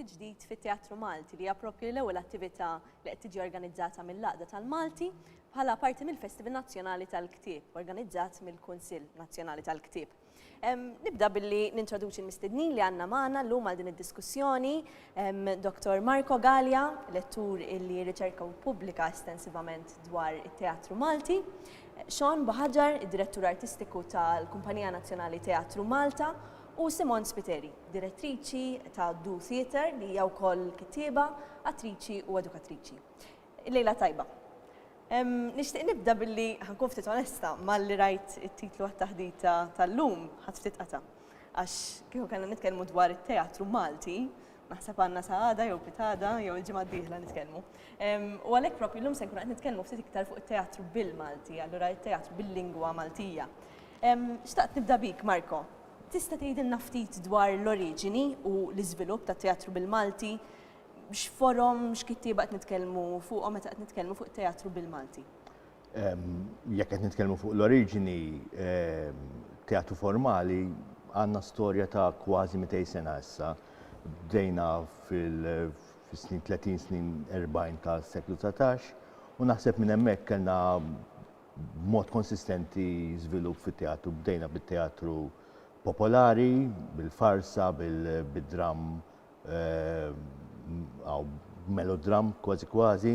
tiġdid fit-Teatru Malti li jappropju l-ewwel attività li qed tiġi organizzata mill-Laqda tal-Malti bħala parti mill-Festival Nazzjonali tal-Ktieb organizzat mill-Kunsill Nazzjonali tal-Ktieb. Nibda billi nintroduċi l-mistednin li għanna maħna l-lum għal din id-diskussjoni, Dr. Marco Gallia, lettur illi riċerka u publika estensivament dwar it-teatru Malti, Sean Bohaġar, direttur artistiku tal-Kumpanija Nazzjonali Teatru Malta, u Simon Spiteri, direttriċi ta' Du Theatre li hija wkoll kittieba, attriċi u edukatriċi. Lejla tajba. Nixtieq nibda billi ħa nkun ftit onesta, malli rajt it-titlu għat-taħdita tal-lum ħadt ftit qata'. Għax kieku kellna nitkellmu dwar it-teatru Malti, naħseb għandna sa għada jew pitada jew il-ġimgħa d-dieħla nitkellmu. U għalhekk propju llum se nkunu qed nitkellmu ftit iktar fuq it-teatru bil-Malti, allura it-teatru bil-lingwa Maltija. Xtaqt nibda bik, Marco. Tista' tgħidilna ftit dwar l-oriġini u l-iżvilupp tat-teatru bil-Malti? X'forom, x'kittieba qed nitkellmu fuqhom meta qed nitkellmu fuq teatru bil-Malti? Jekk qed nitkellmu fuq l-oriġini teatru formali għandna storja ta' kważi 200 sena issa. Bdejna fil-snin 30 snin 40 ta' seklu 19 u naħseb minn hemmhekk kellna mod konsistenti żvilupp fit-teatru. Bdejna bit-teatru popolari, bil-farsa, bil-dramm għaw melodram kważi kważi.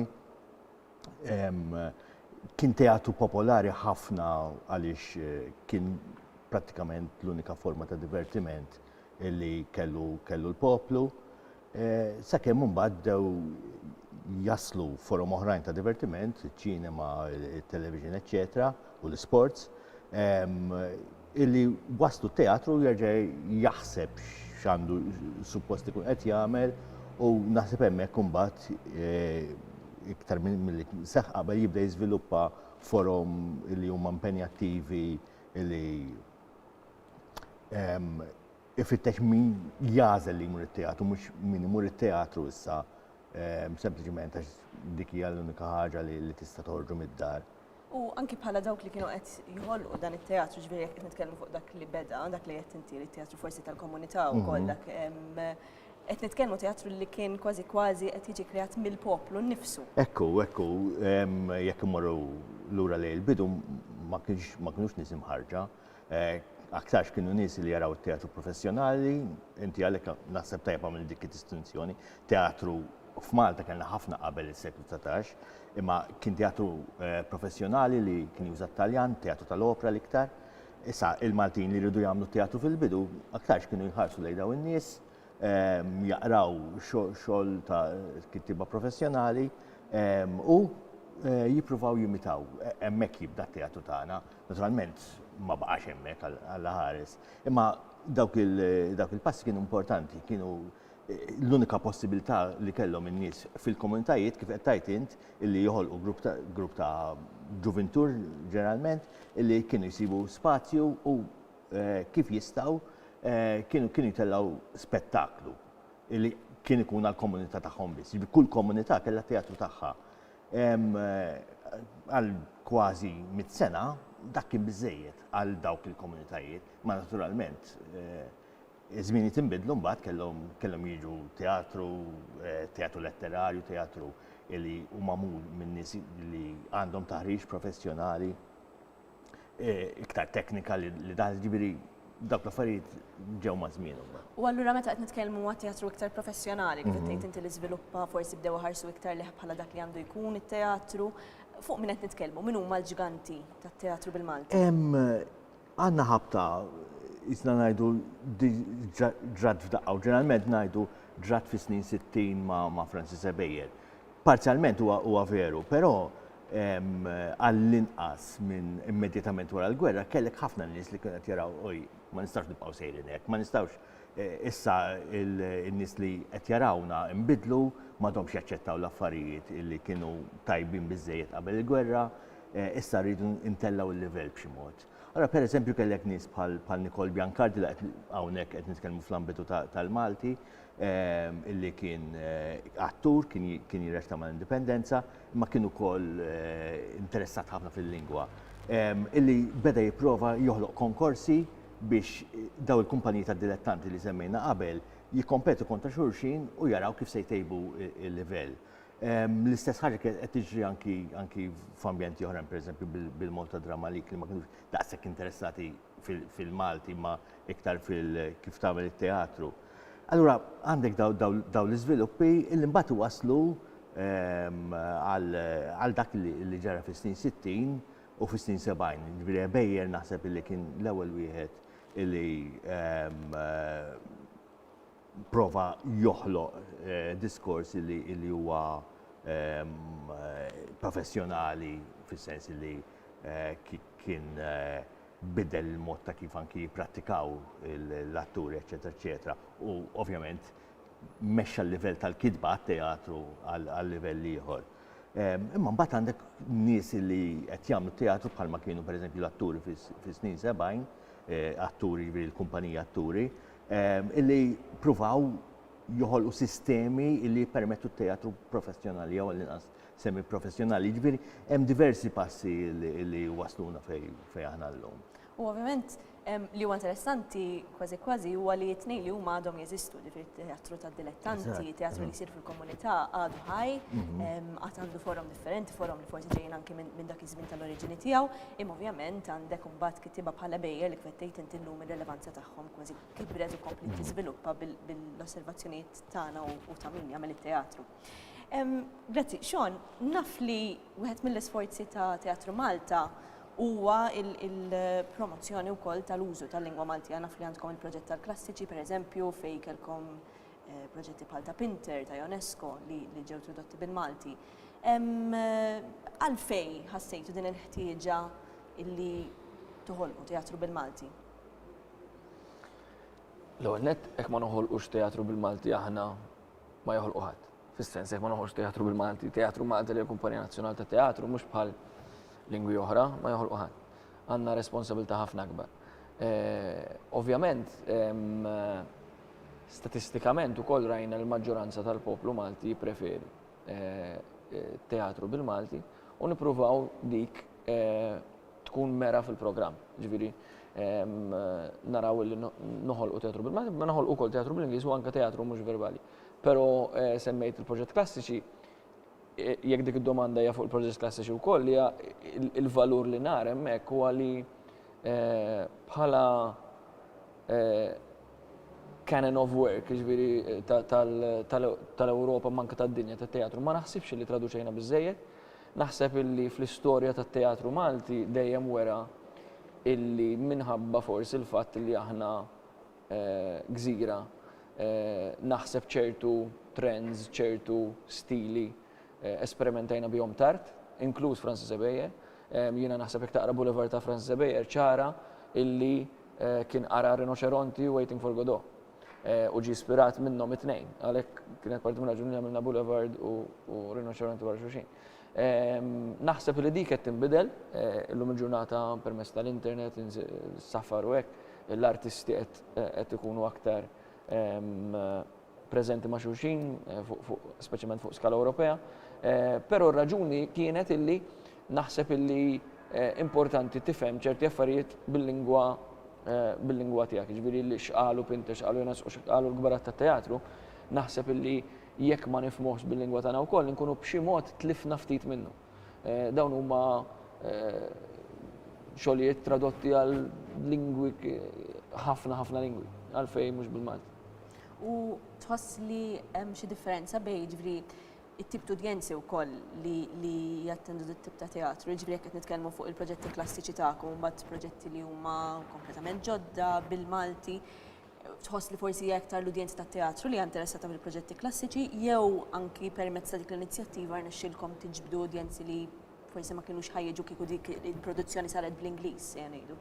Kien teatru popolari ħafna għaliex eh, kien prattikament l-unika forma ta' divertiment li kellu kellu l-poplu. Eh, sakemm mbagħad dew jaslu forom oħrajn ta' divertiment, ċinema, television, eċetera, u l-sports. illi waslu t-teatru jerġa' jaħseb x'għandu suppost ikun qed jagħmel u naħseb hemmhekk imbagħad eh, iktar milli seħħ qabel jibda jiżviluppa forom li huma impenjattivi li ehm, ifittex min jażel li jmur it-teatru, mhux min imur it-teatru issa ehm, sempliċement għax dik hija l-unika ħaġa li tista' toħorġu mid-dar. U anki bħala dawk li kienu qed jħolqu dan it-teatru, ġveri jekk qed nitkellmu fuq dak li beda, dak li qed inti li teatru forsi tal-komunità u koll mhm. dak qed nitkellmu teatru li kien kważi kważi qed jiġi kreat mill-poplu nnifsu. Ekku, ekku, jekk imorru lura lejn il-bidu ma kienx ma kienux nisim ħarġa, aktarx kienu nies li jaraw it-teatru professjonali, inti għalhekk naħseb tajjeb għamilt dik id-distinzjoni, teatru f'Malta kellna ħafna qabel is-seklu dsatax, imma kien teatru eh, professjonali li kien juża t-Taljan, teatru tal-opra l-iktar. Issa il-Maltin li jridu jagħmlu teatru fil-bidu, aktarx kienu jħarsu lejn dawn in-nies, ehm, jaqraw xogħol ta' kittiba professjonali ehm, u eh, jippruvaw jimitaw. E, hemmhekk jibda t-teatru tagħna Naturalment ma baqax hemmhekk Alla ħares, imma dawk il-passi kienu importanti, kienu eh, l-unika possibilità li kellhom in-nies fil-komunitajiet kif qed tajt int illi joħolqu grupp ta' ġuvintur ġeneralment illi kienu jsibu spazju u eh, kif jistgħu eh, kienu kienu jtellgħu spettaklu illi kien ikun għall-komunità tagħhom biss. Kull komunità kellha teatru tagħha. Għal kważi mit sena dak kien biżejjed għal dawk il-komunitajiet, ma naturalment iż-żmienijiet inbidlu mbagħad kellhom kellhom jiġu teatru, teatru letterarju, teatru li hu magħmul minn nies li għandhom taħriġ professjonali. iktar teknika li dan ġibiri dak l-affarijiet ġew ma' żmienhom. U allura meta qed nitkellmu għat teatru iktar professjonali, kif tgħid inti li żviluppa forsi bdew ħarsu iktar leħ bħala dak li għandu jkun it-teatru, fuq min qed nitkellmu, min huma l-ġganti tat-teatru bil-Malti? Għandna ħabta jisna ngħidu ġrat f'daqqa u ġeneralment ngħidu ġrat fis-snin 60 ma' Francis Ebejer. Parzjalment huwa veru, però għall-inqas minn immedjatament wara l-gwerra kellek ħafna nies li kienu qed jaraw oj, ma nistgħux nibqgħu sejrin hekk, ma nistgħux issa n-nies li qed jarawna nbidlu, m'għadhomx jaċċettaw l-affarijiet li kienu tajbin biżżejjed qabel il-gwerra, issa rridu ntellgħu l-livell b'xi mod. Allura pereżempju kellek nies bħal Nicole Biancardi li qed hawnhekk qed nitkellmu fl-ambitu tal-Malti, illi kien attur, kien jirreċta mal-Indipendenza, imma kien ukoll interessat ħafna fil-lingwa, illi beda jipprova joħloq konkorsi biex daw il-kumpaniji ta' dilettanti li semmejna qabel jikkompetu kontra xulxin u jaraw kif se jtejbu il-livell. Ehm, l-istess ħaġa qed tiġri anki f'ambjenti oħrajn, pereżempju bil-Malta Drama League li ma kinux daqshekk interessati fil-Malti imma iktar fil kif tagħmel it-teatru. Allura għandek daw l-iżviluppi li mbagħad waslu ehm, għal dak li ġara fis-snin 60 u fis-snin 70. Ġifieri Bejjer naħseb li kien l-ewwel wieħed li ehm, prova joħloq diskors li huwa professjonali fis-sens li kien biddel il-mod ta' kif anki jipprattikaw l-atturi, eċċetera, eċċetera. U ovvjament mexxa l-livell tal-kitba għat-teatru għal livell ieħor. Imma mbagħad għandek nies li qed jagħmlu teatru bħalma kienu pereżempju l-atturi fis-snin 70, atturi jiġri l-kumpanija atturi, illi jippruvaw joħolqu sistemi illi jippermettu t-teatru professjonali jew għall-inqas semi professjonali. Ġifieri hemm diversi passi illi wasluna fejn aħna llum. U ovvjament li huwa interessanti kważi kważi huwa li t-tnejn li huma għadhom jeżistu, ġifieri teatru ta' dilettanti, teatru li jsir fil-komunità għadu ħaj, mhm. għad għandu forom differenti, forom li forsi ġejjin anki minn dak iż-żmien tal-oriġini tiegħu, imma ovvjament għandek imbagħad kittieba bħala bejjer li kvettejt inti llum ir-relevanza tagħha. tagħhom kważi kibret u komplet mm. tiżviluppa bil-osservazzjonijiet tagħna u ta' min jagħmel it-teatru. Grazzi, Sean, naf li wieħed mill-isforzi ta' Teatru Malta huwa il-promozzjoni wkoll tal-użu tal-lingwa Maltija naf li għandkom il-proġett tal-klassiċi, per eżempju, fej kelkom eh, proġetti bħal ta' Pinter, ta' UNESCO li ġew tradotti bil-Malti. Għalfej ħassejtu din il-ħtieġa illi toħolqu teatru bil-Malti? L-ewwel nett hekk ma noħolqux teatru bil-Malti aħna ma joħolqu ħadd. Fis-sens hekk ma noħolqux teatru bil-Malti, teatru Malti li l-Kumpanija Nazzjonali ta' Teatru mhux bħal lingwi oħra ma joħolqu ħadd. Għandna responsabilità ħafna akbar. Eh, ovvjament, statistikament ukoll rajna l-maġġoranza tal-poplu Malti jippreferi eh, eh, teatru bil-Malti u nippruvaw dik tkun mera fil-programm. Ġifieri naraw li noħolqu teatru bil-Malti, ma noħolqu wkoll teatru bl-Ingliż u anke teatru mhux verbali. Però semmejt il-proġett klassiċi, jekk dik id-domanda hija fuq il-proġett klassiċi wkoll li il-valur li nar hemmhekk huwa li bħala canon of work, ġifieri tal-Ewropa manka tad-dinja tat-teatru, ma naħsibx li traduċejna biżejjed, Naħseb illi fl-istorja tat-teatru Malti dejjem wera illi minħabba forsi l-fatt li aħna gżira naħseb ċertu trends, ċertu stili esperimentajna bihom tard, inkluż Francis Ebejer. Jiena naħseb jekk taqra Boulevard ta' Francis Ebejer ċara illi kien qara Rinoċeronti u Waiting for Godot. u ġie ispirat minnhom it-tnejn. Għalhekk kienet parti minn raġuni li għamilna Boulevard u Rinoċeronti wara xulxin. Naħseb li dik qed tinbidel illum il-ġurnata permezz tal-internet, safar u hekk, l-artisti qed ikunu aktar preżenti ma' xulxin, speċjalment fuq skala Ewropea. Però r-raġuni kienet illi naħseb illi importanti tifhem ċerti affarijiet bil-lingwa bil-lingwa tiegħek, jiġifieri li x'qalu Pinter, x'qalu Jonas u x'qalu l-kbarat tat-teatru, naħseb illi jekk ma nifhmuhx bil-lingwa tagħna wkoll inkunu b'xi mod tlifna ftit minnu. Dawn huma xogħlijiet tradotti għal lingwi ħafna ħafna lingwi, għalfejn mhux bil-Malti. U tħoss li hemm xi differenza bejn jiġri it-tip t'udjenzi wkoll li li jattendu dit tip ta' teatru, jiġifieri jekk qed nitkellmu fuq il-proġetti klassiċi tagħkom imbagħad proġetti li huma kompletament ġodda bil-Malti, tħoss li forsi hija iktar l-udjenza tat-teatru li hija interessata fil-proġetti klassiċi jew anki permezz ta' dik l-inizjattiva rnexxielkom tiġbdu udjenzi li forsi ma kinux ħa jiġu kieku dik il-produzzjoni saret bl-Ingliż sejna ngħidu?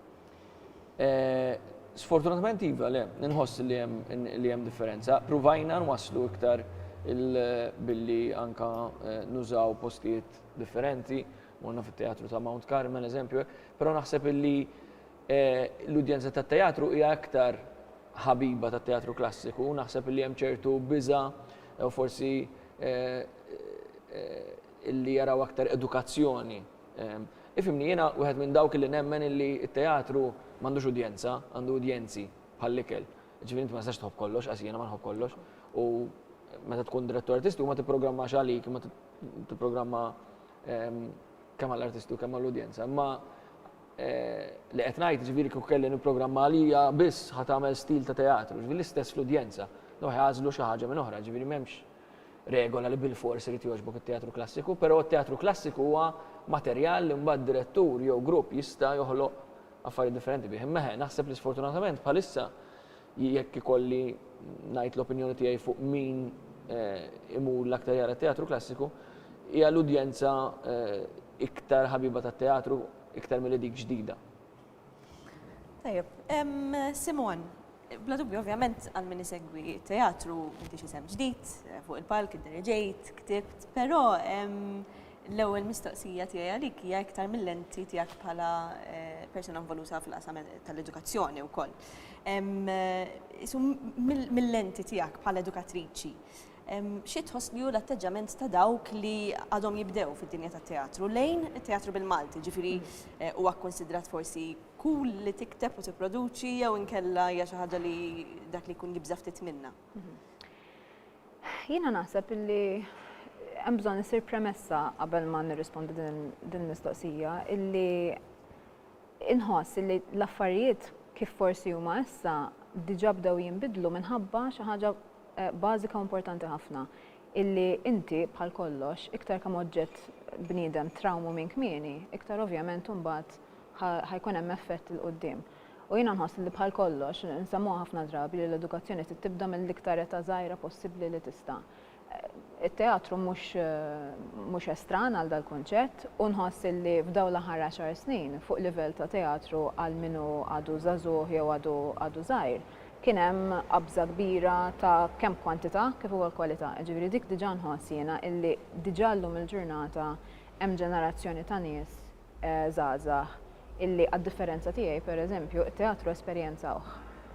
Sfortunatament iva, le, nħoss li hemm li hemm differenza. Pruvajna nwasslu iktar billi anka eh, nużaw postijiet differenti, morna fit-teatru ta' Mount Carmel, eżempju, però naħseb illi eh, l-udjenza tat teatru hija aktar ħabiba tat teatru klassiku, naħseb illi hemm ċertu biża u forsi eh, illi jaraw aktar edukazzjoni Ifhimni, jiena wieħed minn dawk li nemmen illi t-teatru m'għandux udjenza, għandu udjenzi, bħall-ikel. Jiġifieri inti ma tistax tħobb kollox, qas jiena ma nħobb kollox, u meta tkun direttur artistiku ma tipprogrammax għalik imma tipprogramma kemm għall-artisti u kemm għall-udjenza. Imma li qed ngħid jiġifieri kieku kelli nipprogramma għalija biss ħa tagħmel stil ta' teatru, jiġifieri l-istess fl-udjenza. Dawn ħa jagħżlu xi ħaġa minn oħra, jiġifieri m'hemmx regola li bilfors irid jogħġbok it-teatru klassiku, però t-teatru klassiku huwa materjal li mbagħad direttur jew grupp jista' joħloq affarijiet differenti bih. Imma eħe, naħseb li sfortunatament bħalissa jekk ikolli ngħid l-opinjoni tiegħi fuq min eh, imur l-aktar jara t-teatru klassiku, hija l-udjenza eh, iktar ħabiba tat-teatru iktar mill dik ġdida. Tajjeb, Simon, bla dubju ovvjament għal min isegwi teatru inti xi sem ġdid eh, fuq il-palk id-derġejt, ktibt, però l-ewwel mistoqsija tiegħi għalik hija iktar mill-lenti tiegħek bħala eh, persuna involuta fil-qasam tal-edukazzjoni wkoll. Isu mill-lenti tiegħek bħala edukatriċi, Xi tħoss li hu l-atteġġament ta' dawk li għadhom jibdew fid-dinja tat-teatru lejn it-teatru bil-Malti? Ġifieri eh, huwa kkunsidrat forsi cool li tikteb u tipproduċi jew inkella hija xi ħaġa li dak li jkun jibża' ftit minnha. Jiena naħseb illi hemm bżonn isir premessa qabel ma nirrispondi din il-mistoqsija illi inħoss illi l-affarijiet kif forsi huma issa diġà bdew jinbidlu minħabba xi ħaġa bażika u importanti ħafna, illi inti, bħal kollox, iktar kemm oġġett bniedem trawmu minn kmieni, iktar ovvjament imbagħad ħa ħa jkun hemm effett 'il quddiem. U jiena nħoss illi bħal kollox, nsemmuha ħafna drabi li l-edukazzjoni trid tibda mill-iktar età żgħira possibbli li tista'. It-teatru mhux mhux estran għal dal-kunċett u nħoss illi f'dawn l-aħħar għaxar snin, fuq livell ta' teatru għal min hu għadu żagħżugħ jew għadu għadu żgħir, kien hemm qabża kbira ta' kemm kwantità kif ukoll kwalità. Jiġifieri dik diġà nħoss jiena illi diġà llum il-ġurnata hemm ġenerazzjoni ta' nies żgħażagħ illi għad-differenza tiegħi, pereżempju, it-teatru esperjenzawh.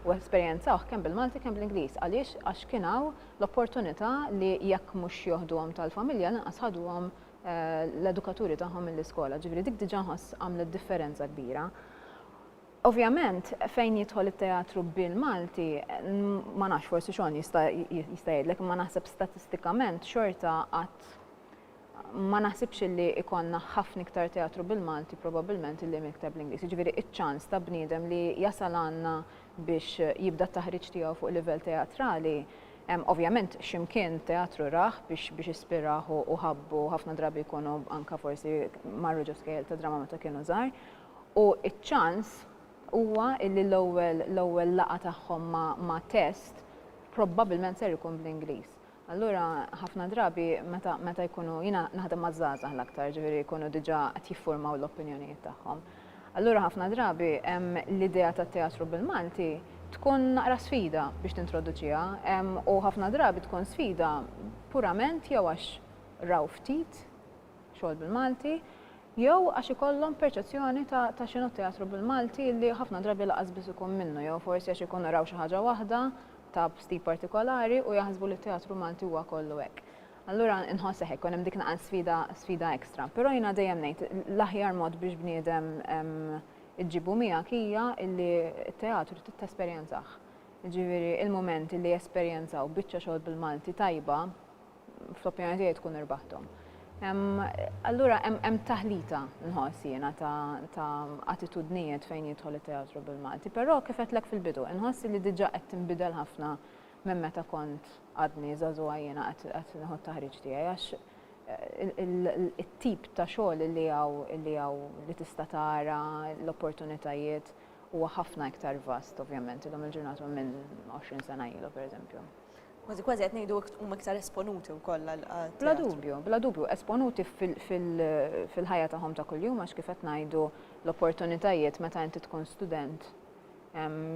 U esperjenzawh kemm bil-Malti kemm bl-Ingliż. Għaliex? Għax kien hawn l-opportunità li jekk mhux joħduhom tal-familja, lanqas ħaduhom l-edukaturi tagħhom mill-iskola. Jiġifieri dik diġà nħoss għamlet differenza kbira. Ovvjament, fejn jidħol it-teatru bil-Malti, ma nafx forsi xogħol jista' jgħidlek, imma naħseb statistikament xorta qatt ma naħsibx li ikonna ħafna iktar teatru bil-Malti probabbilment li miktar bl-Ingliż. Jiġifieri iċ-ċans ta' bniedem li jasal għandna biex jibda t-taħriġ tiegħu fuq livell teatrali Ovvjament ximkien teatru raħ biex biex ispiraħ u ħabbu ħafna drabi jkunu anka forsi marru ġo skejl ta' drammata kienu żgħar U ċ-ċans huwa illi l-ewwel l-ewwel laqgħa tagħhom ma' ma' test probbabilment ser ikun bl-Ingliż. Allura ħafna drabi meta meta jkunu jiena naħdem maż-żgħażagħ l-aktar, ġifieri jkunu diġà qed jiffurmaw l-opinjonijiet tagħhom. Allura ħafna drabi hemm l-idea tat-teatru bil-Malti tkun naqra sfida biex tintroduċiha u ħafna drabi tkun sfida purament jew għax raw ftit xogħol bil-Malti, jew għax ikollhom perċezzjoni ta' ta' x'inhu teatru bil-Malti li ħafna drabi laqas biss ikun minnu jew forsi għax ikunu raw xi ħaġa waħda ta' stil partikolari u jaħsbu li t-teatru Malti huwa kollu hekk. Allura inħoss hekk ikun hemm dik naqas sfida sfida ekstra. Però jiena dejjem ngħid l-aħjar mod biex bniedem iġġibu miegħek hija li t-teatru tesperjenzah. Jiġifieri il-mument li jesperjenzaw biċċa xogħol bil-Malti tajba fl-opinjoni tiegħi tkun irbaħthom. Allura hemm taħlita nħoss jiena ta' attitudnijiet fejn jidħol it-teatru bil-Malti, però kif qedlek fil-bidu, inħoss li diġà qed tinbidel ħafna minn meta kont għadni żagħżugħa jiena qed nieħu t-taħriġ tiegħi għax eh, it-tip ta' xogħol li hawn li hawn li tista' tara l-opportunitajiet huwa ħafna iktar vast ovvjament illum il-ġurnata minn 20 sena ilu pereżempju. Kważi kważi qed ngħidu huma iktar esponuti wkoll għal teatru. Bla dubju, bla dubju, esponuti fil-ħajja tagħhom ta' kuljum għax kif qed ngħidu l-opportunitajiet meta inti tkun student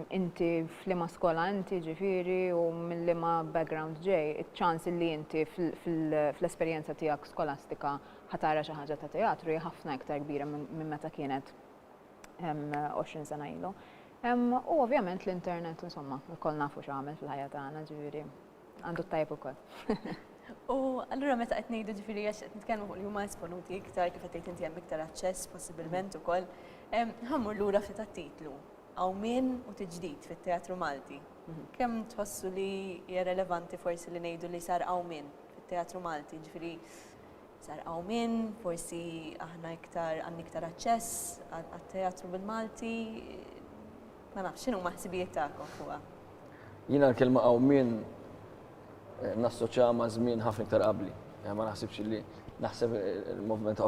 inti f'liema skola inti ġifieri u mill-liema background ġej, iċ-ċans li inti fl-esperjenza tiegħek skolastika ħatara xi ħaġa ta' teatru hija ħafna iktar kbira minn meta kienet 20 sena ilu. Hemm u ovvjament l-internet, insomma, lkoll nafu x'għamel fil-ħajja tagħna, ġifieri għandu t-tajjeb ukoll. U allura meta qed ngħidu ġifieri għax qed nitkellmu fuq li huma esponuti iktar kif qed tgħid inti hemm iktar aċċess possibilment ukoll, ħammur lura ftit għat-titlu, Għawmien u Tiġdid fit-Teatru Malti. Mhm. Kemm tħossu li hija relevanti forsi li ngħidu li sar għawmien fit-Teatru Malti, ġifieri Sar qawmien, forsi aħna iktar għandna iktar aċċess għat-teatru bil-Malti. Ma nafx, x'inhuma ħsibijiet tagħkom fuqha? Jiena l-kelma qawmien eh, nassoċja ma' żmien ħafna iktar qabli. Eh, ma naħsibx li naħseb il-movement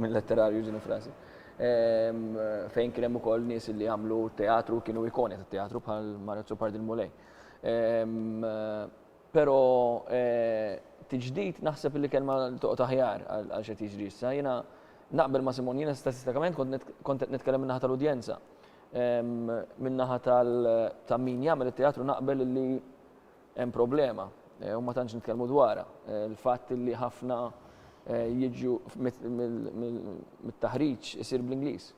minn letterarju ġini frażi. Ehm, fejn kien hemm ukoll nies li għamlu teatru kienu ikoni tat-teatru bħal Marazzo Pardil Mulej. Ehm, Pero tiġdid naħseb li kelma li toqgħod aħjar għal x'qed jiġri issa. Jiena naqbel ma' Simon, jiena statistikament kont qed nitkellem min-naħa tal-udjenza. Min-naħa ta' min jagħmel it-teatru naqbel li hemm problema u ma tantx nitkellmu dwarha. Il-fatt li ħafna jiġu mit-taħriġ isir bl-Ingliż.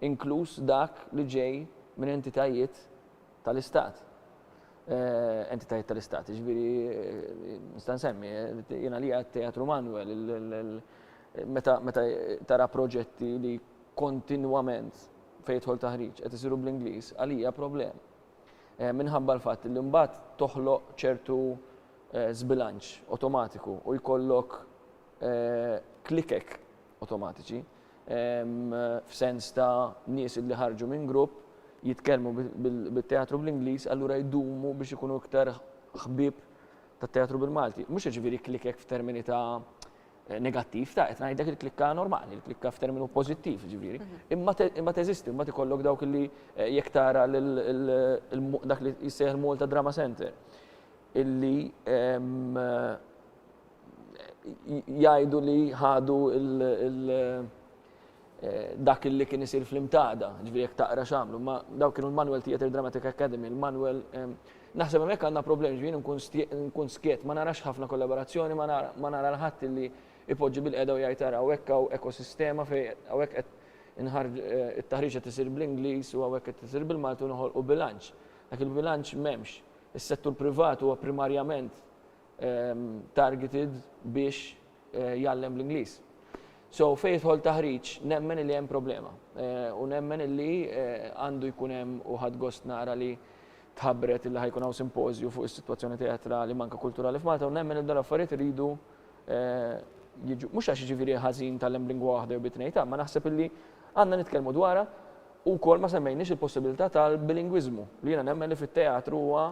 inkluż dak li ġej minn entitajiet tal-Istat, entitajiet tal-Istat, jiġifieri nista' nsemmi, jien għalija t-Teatru Manuel, meta tara proġetti li kontinwament fejn jidħol taħriġ qed isiru bl-Ingliż, għalija problema. Minħabba l-fatt li mbagħad toħloq ċertu żbilanċ awtomatiku u jkollok klikek awtomatiċi, f'sens ta' nies li ħarġu minn grupp, jitkellmu bit-teatru bl-Ingliż, allura jdumu biex ikunu iktar ħbieb tat-teatru bil-Malti. Mhux jiġifieri klikkek f'termini ta' negattiv, ta' qed ngħidlek il-klikka normali, il-klikka f'terminu pożittiv jiġifieri. Imma imma teżisti, imma tikollok dawk li eh, jekk tara dak li jissejħ il-Malta Drama Center illi jgħidu li ħadu dak li kien isir fl-imtada, ġviri jek taqra xamlu, ma daw kienu l-Manuel Theatre Dramatic Academy, l-Manuel, naħseb għamek għanna problem, ġviri nkun skiet, ma narax ħafna kollaborazzjoni, ma nara l-ħadd li ipoġġi bil-qeda u jgħid ara għawek għaw ekosistema fej għawek qed inħarġ it-taħriġ qed isir bl-Ingliż u għawek qed isir bil-Malti u noħolqu bilanċ. Dak il-bilanċ m'hemmx. Is-settur privat huwa primarjament targeted biex jgħallem l-Ingliż. So fejn jidħol taħriġ nemmen li hemm problema. U nemmen li għandu jkun hemm u ħadd gost nara li tħabbret li ħajkun hawn simpożju fuq is-sitwazzjoni teatrali manka kulturali f'Malta u nemmen li dan affarijiet iridu jiġu mhux għax jiġifieri ħażin tal-hemm lingwa waħda jew bitnejta, ma naħseb illi għandna nitkellmu dwarha u wkoll ma semmejniex il-possibilità tal-bilingwiżmu li jiena nemmen li fit-teatru huwa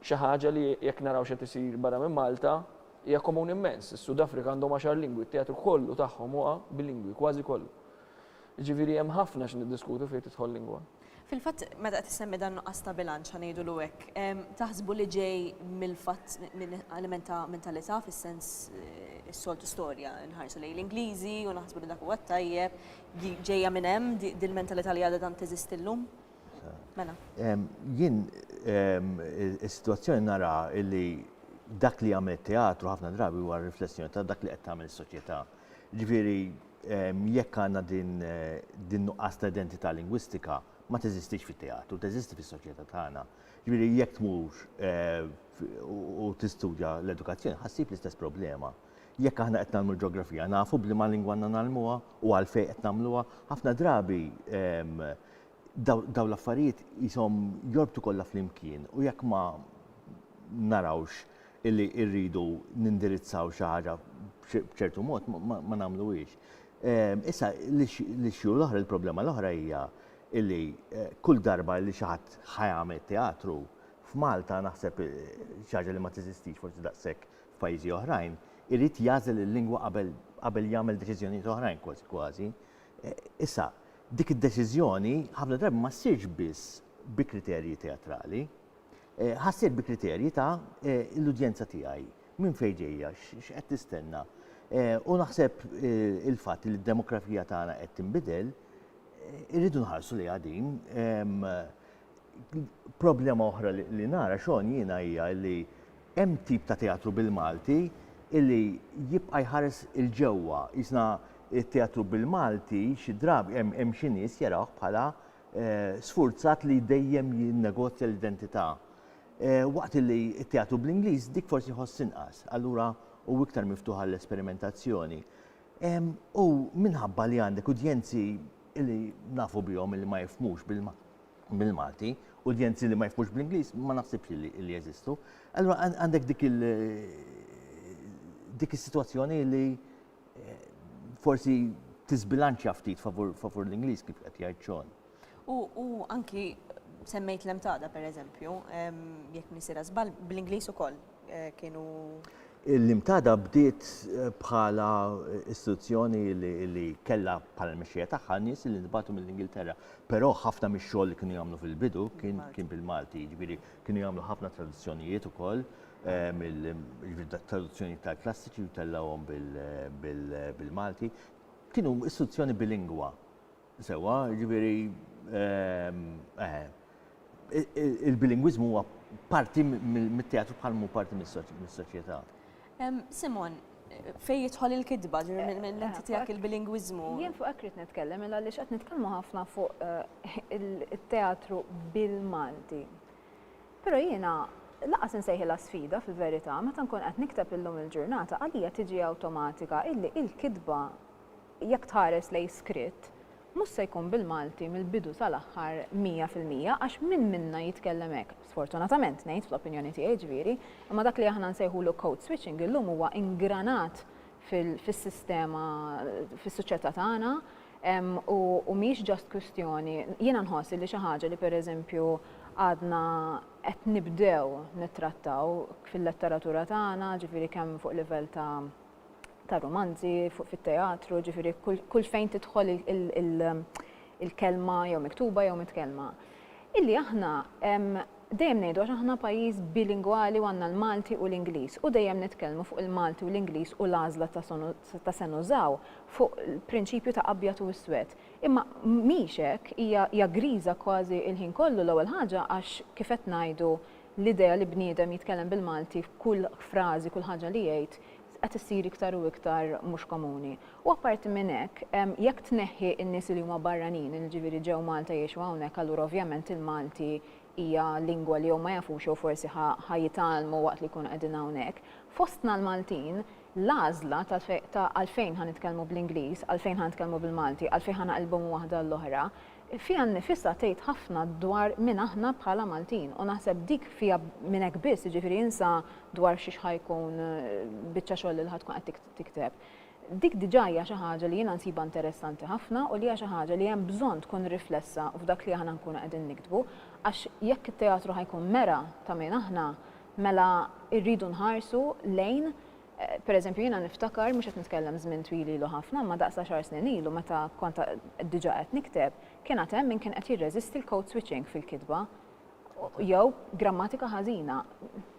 Xi ħaġa li, jekk naraw x'qed isir barra minn Malta, hija komuni mmens. Is-Sudafrika għandhom għaxar lingwi, t-teatru kollu tagħhom huwa bilingwi, kważi kollu. Jiġifieri hemm ħafna x'niddiskutu fejn tidħol lingwa. Fil-fatt, meta qed issemmi dan nuqqas ta' bilanċ, ħa ngħidulu hekk, taħsbu li ġej mill-fatt, minn element ta' mentalità fis-sens, is-soltu storja, inħarsu lejn l-Ingliżi u naħsbu li dak huwa t-tajjeb, ġejja minn hemm dil-mentalità li għadha tant teżisti llum? Mela. Jien is-sitwazzjoni nara li dak li għamel teatru ħafna drabi huwa riflessjoni ta' dak li qed tagħmel is-soċjetà. Ġifieri jekk għandna din nuqqas ta' identità lingwistika ma teżistix fit-teatru, teżisti fis-soċjetà tagħna. Ġifieri jekk tmur u tistudja l-edukazzjoni ħassib l-istess problema. Jekk aħna qed nagħmlu l-ġeografija, nafu b'liema lingwa għandna nagħlmuha u għalfejn qed nagħmluha, ħafna drabi ehm, daw l-affarijiet jisom jorbtu kollha flimkien u jekk ma narawx illi irridu nindirizzaw xi ħaġa b'ċertu mod ma nagħmluhiex. Ehm, issa l-issue l-oħra, il-problema l-oħra hija illi eh, kull darba li xi ħadd ħajamel teatru f'Malta naħseb eh, xi ħaġa li ma teżistix forsi daqshekk f'pajjiżi oħrajn, irid jagħżel il-lingwa qabel qabel jagħmel deċiżjonijiet oħrajn kważi kważi. Issa, dik id-deċiżjoni ħafna drabi ma ssirx biss bi kriterji teatrali. Ħa ssir bi kriterji ta' l-udjenza tiegħi, minn fejn ġejja, x'qed tistenna. U naħseb il-fatt li d-demografija tagħna qed tinbidel, irridu nħarsu lejha din. Problema oħra li nara Sean jiena hija li hemm tip ta' teatru bil-Malti illi jibqa' jħares 'il ġewwa. Qisna t-teatru bil-Malti xi drabi hemm xi nies jarawh bħala sfurzat li dejjem jinnegozja l-identità. Waqt illi t-teatru bl-Ingliż dik forsi jħoss inqas, allura hu iktar miftuħ għall-esperimentazzjoni. U minħabba li għandek udjenzi li nafu bihom illi ma jifhmux bil-Malti, udjenzi li ma jifhmux bl-Ingliż ma naħsibx li jeżistu. Allura għandek dik il- dik is-sitwazzjoni li eh, forsi tisbilanċja ftit favur l-Ingliż kif qed jgħid xogħol. U anki semmejt l-emtada per eżempju, jekk nisira żball, bl-Ingliż ukoll kienu. Il-limtada bdiet bħala istituzzjoni li kellha bħala l-mexxija tagħha nies li ntbagħtu mill-Ingilterra. Però ħafna mix-xogħol li kienu jagħmlu fil-bidu kien kien bil-Malti, jiġifieri kienu jagħmlu ħafna traduzzjonijiet ukoll eh, mill-traduzzjoni tal-klassiċi u tellawhom bil-Malti. Kienu istituzzjoni bilingwa. Sewwa, jiġifieri il-bilingwiżmu huwa parti mit-teatru bħal mhu parti mis-soċjetà. Simon, fejn jidħol il-kitba, mill-lenti tiegħek il-bilingwiżmu? Jien fuq hekk rrid nitkellem, mela għaliex qed nitkellmu ħafna fuq il-teatru bil-Malti. Però jiena laqas insejħilha sfida fil-verità, meta nkun qed nikteb illum il-ġurnata għalija tiġi awtomatika illi il-kitba Jekk tħares lejn skritt, mhux se jkun bil-Malti mill-bidu sal-aħħar mija fil-mija għax min minna jitkellem hekk, sfortunatament ngħid, fl-opinjoni tiegħi ġifieri, imma dak li aħna nsejħulu code switching illum huwa ingranat fis-sistema, fis-suċjetà tagħna u mhix just kwistjoni, jiena nħoss li xi ħaġa li pereżempju għadna qed nibdew nittrattaw fil-letteratura tagħna, ġifieri kemm fuq livell ta' tar-rumanzi, fit-teatru, ġifieri kull fejn tidħol il-kelma jew miktuba jew mitkellma. Illi aħna dejjem ngħidu għax aħna pajjiż bilingwali u għandna l-Malti u l-Ingliż u dejjem nitkellmu fuq il-Malti u l-Ingliż u l-għażla ta' se nużaw fuq prinċipju ta' abjad u iswed. Imma mhix hekk, hija griża kważi l-ħin kollu l-ewwel ħaġa għax kif qed ngħidu L-idea li bniedem jitkellem bil-Malti f'kull frażi, kull ħaġa li jgħid, qed issir iktar u iktar mhux komuni. U apparti minn hekk, jekk tneħħi n-nies li huma barranin, li jiġifieri ġew Malta jgħixu hawnhekk, allura ovvjament il-Malti hija lingwa li jew ma jafux jew forsi ħa jitgħallmu waqt li jkunu qegħdin hawnhekk. Fostna l-Maltin, l-għażla ta' għalfejn ħa nitkellmu bl-Ingliż, għalfejn ħa nitkellmu bil-Malti, għalfejn ħa naqilbu minn waħda għall-oħra, Fiha nnifisha tgħid ħafna dwar min aħna bħala Maltin u naħseb dik fiha minn hekk biss, jiġifieri insa dwar xiex ħa jkun biċċa xogħol li ħa tkun qed tikteb. Dik diġà hija xi ħaġa li jiena nsibha interessanti ħafna u li hija xi ħaġa li hemm bżonn tkun riflessa f'dak li aħna nkunu qegħdin niktbu għax jekk it-teatru ħa jkun mera ta' min aħna mela rridu nħarsu lejn Per eżempju, jiena niftakar, mhux qed nitkellem żmien twil ilu ħafna, imma daqs għaxar snin ilu meta kont diġà qed nikteb, kien għad hemm min kien qed jirreżisti l-code switching fil-kitba jew grammatika ħażina.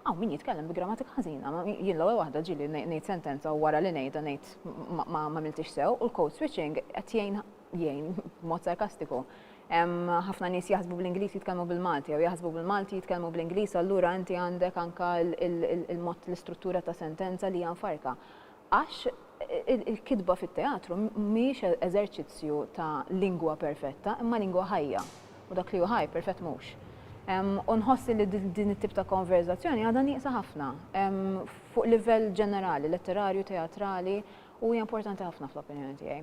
Hawn min jitkellem bi grammatika ħażina, jien l-ewwel waħda ġieli ngħid sentenza u wara li ngħidha ngħid m'għamiltix sew u l-code switching qed jgħin jgħin b'mod sarkastiku. Hemm ħafna nies jaħsbu bl-Ingliż jitkellmu bil-Malti, jew jaħsbu bil-Malti jitkellmu bl-Ingliż, allura inti għandek anka il-mod l-istruttura ta' sentenza li hija mfarka. Għax il-kitba fit-teatru mhijiex e-, eżerċizzju ta' lingwa perfetta, imma lingwa ħajja. U dak li hu ħaj perfett mhux. U nħossi li din it-tip ta' konverzazzjoni għadha nieqsa ħafna fuq livell ġenerali, letterarju, teatrali, u hija importanti ħafna fl-opinjoni tiegħi.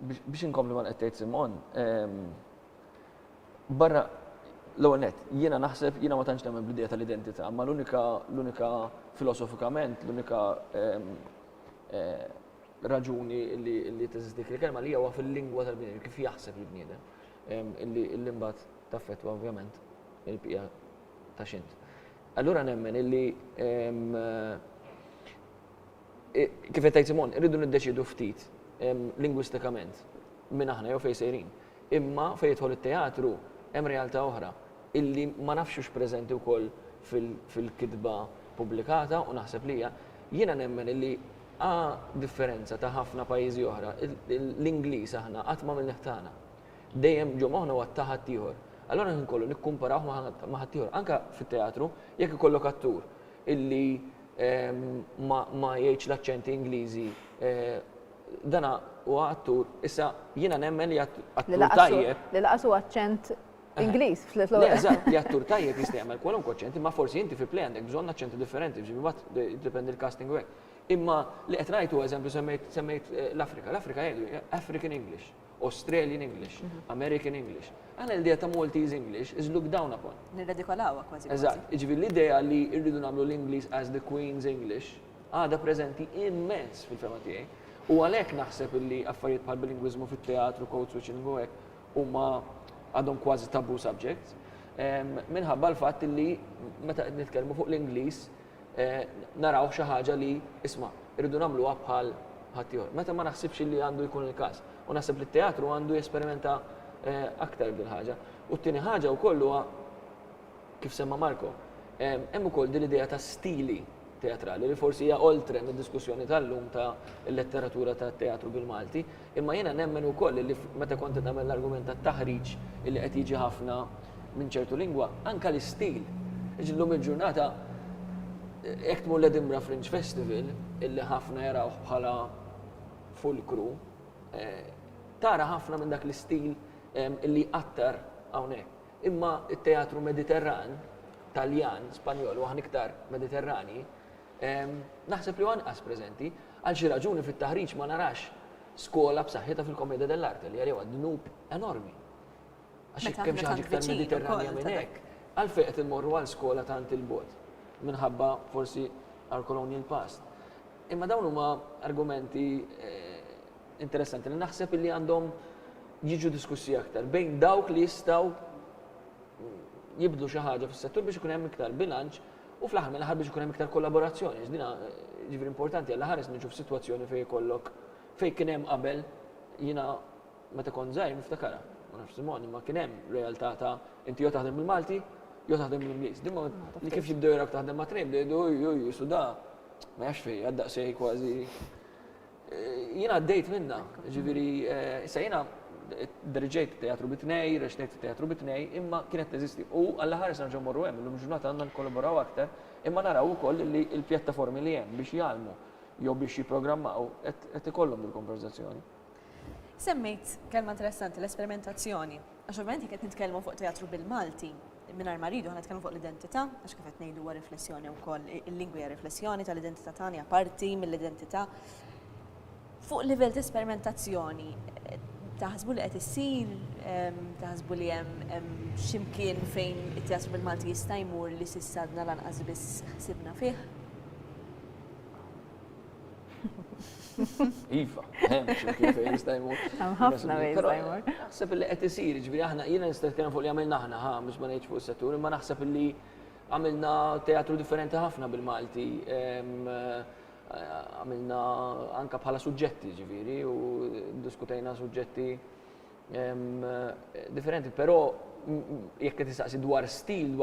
Biex inkompli ma qed tgħid Simon, barra l-ewwel nett, jiena naħseb jiena ma tantx nemmen bl-idea tal-identità, ma l-unika l-unika filosofikament, l-unika raġuni li teżisti dik il-kelma li huwa fil-lingwa tal-bniedem, kif jaħseb il-bniedem, illi mbagħad taffettwa ovvjament il-bqija ta' x'int. Allura nemmen illi Kif qed tgħid Simon, irridu niddeċiedu ftit lingwistikament min aħna jew fejn sejrin. Imma fejn jidħol it-teatru hemm realtà oħra illi ma nafx hux preżenti wkoll fil-kitba pubblikata u naħseb li hija. Jiena nemmen illi a differenza ta' ħafna pajjiżi oħra, l-Ingliż aħna qatt m'għamilnih tagħna. Dejjem ġo moħħna huwa ta' ħaddieħor. Allura l-ħin kollu nikkumparawh ma' ħaddieħor. Anke fit-teatru, jekk ikollok attur illi ma jgħidx l-aċċenti Ingliżi. Dana huwa attur, issa jiena nemmen li attur tajjeb. Li laqas huwa aċċent Ingliż fl-ewwel. Eżatt, li attur tajjeb jista' jagħmel kwalunkwe aċċent, imma forsi inti fi play għandek bżonn aċċenti differenti, ġifieri mbagħad jiddependi l-casting u hekk. Imma li qed ngħid huwa eżempju semmejt l-Afrika. L-Afrika jgħidu African English. Australian English, American English. Aħna l-idea ta' Maltese English is looked down upon. Nirredikolawha kważi. Eżatt, jiġifieri l-idea li rridu nagħmlu l-Ingliż as the Queen's English għadha preżenti immens fil-fehma tiegħi. U għalhekk naħseb illi affarijiet bħal bilingwiżmu fit-teatru, code switching u hekk huma għadhom kważi taboo subjects. Minħabba l-fatt illi meta qed nitkellmu fuq l-Ingliż naraw xi ħaġa li, isma', irridu nagħmluha bħal ħaddieħor. Meta ma naħsibx li għandu jkun il-każ. U naħseb li t-teatru għandu jesperimenta aktar bil ħaġa U t-tieni ħaġa wkoll huwa kif semma Marko, hemm ukoll din l-idea ta' stili teatrali li forsi hija oltre mid-diskussjoni tal-lum ta' letteratura ta' teatru bil-Malti, Imma jiena nemmen ukoll illi meta kont qed nagħmel l-argument tat-taħriġ illi qed jiġi ħafna minn ċertu lingwa, anke l-istil. Jiġri llum il-ġurnata jekk tmur l-Edinburgh Fringe Festival, illi ħafna jarawh bħala fulkru, tara ħafna minn dak l-istil illi jqattar hawnhekk. Imma t-teatru Mediterran, Taljan, Spanjol u aħna iktar Mediterranji, naħseb li hu anqas preżenti. Għal xi raġuni fit-taħriġ ma narax skola b'saħħitha fil-commedia dell'arte li għalija huwa dnub enormi. Għax jekk hemm xi ħaġa iktar Mediterranja minn hekk, għalfejn qed immorru għal skola tant 'il bogħod? Minħabba forsi our colonial past. Imma dawn huma argumenti interessanti li naħseb illi għandhom jiġu diskussi aktar bejn dawk li jistgħu jibdlu xi ħaġa fis-settur biex ikun hemm iktar bilanċ U fl-aħħar mill-aħħar biex ikun hemm iktar kollaborazzjoni, għax dina ġifieri importanti għal ħares niġu f'sitwazzjoni fejn ikollok fejn kien hemm qabel jiena meta kont żgħir niftakarha, ma nafx Simon, imma kien hemm realtà ta' inti jew taħdem bil-Malti jew taħdem bl-Ingliż. Din ma li kif jibdew jarawk taħdem ma' tnejn bdew jgħidu oj oj oj suda ma jafx fejn għad daqsxejn kważi Jien għaddejt minna, ġifieri issa jiena derġejt teatru bitnej, reċtejt teatru bitnej, imma kienet teżisti. U għalla ħares nerġgħu morru hemm, illum ġurnata għandna nkollaboraw aktar, imma naraw ukoll li l-pjattaformi li hemm biex jgħallmu jew biex jipprogrammaw qed ikollhom dil-konverżazzjoni. Semmejt kelma interessanti, l-esperimentazzjoni. Għax ovvjament jekk qed nitkellmu fuq teatru bil-Malti, mingħajr ma rridu aħna nitkellmu fuq l-identità, għax kif qed ngħidu huwa riflessjoni wkoll, il-lingwa hija riflessjoni tal-identità tagħna, hija parti mill-identità. Fuq livell ta' esperimentazzjoni, taħsbu li qed issir, taħsbu li hemm x'imkien fejn it-teatru bil-Malti jista' jmur li s'issa għadna lanqas biss ħsibna fih? Iva, hemm xi mkien fejn jista' jmur. Hemm ħafna fejn jista' jmur. Naħseb li qed isir, ġifieri aħna jiena nista' nitkellem fuq li għamilna aħna, ħa mhux ma ngħidx fuq is-settur, imma naħseb li għamilna teatru differenti ħafna bil-Malti. Għamilna anke bħala suġġetti, ġifieri, u diskutejna suġġetti differenti, però jekk qed tistaqsi dwar stil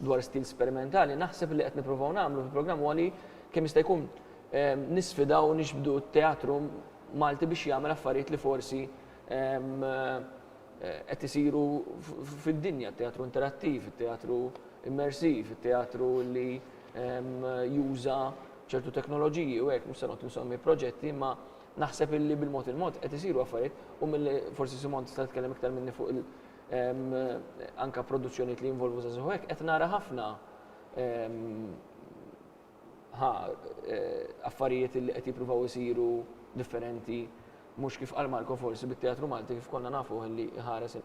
dwar stil sperimentali, naħseb li qed nippruvaw nagħmlu fil-programm huwa li kemm jista' jkun ehm, nisfidaw nixbdu t-teatru Malti biex jagħmel affarijiet li forsi ehm, eh, qed isiru fid-dinja, teatru interattiv, teatru immersiv, teatru li ehm, juża ċertu teknoloġiji u hekk mhux se noqgħod insommi proġetti ma' Naħseb illi bil-mod il-mod qed isiru affarijiet u milli forsi Simon tista' tkellem iktar minni fuq il- anka produzzjonijiet li jinvolvu żagħżugħ hekk qed nara ħafna ħa affarijiet li qed jippruvaw isiru differenti mhux kif qal Marco forsi bit-teatru Malti kif konna nafuh li jħares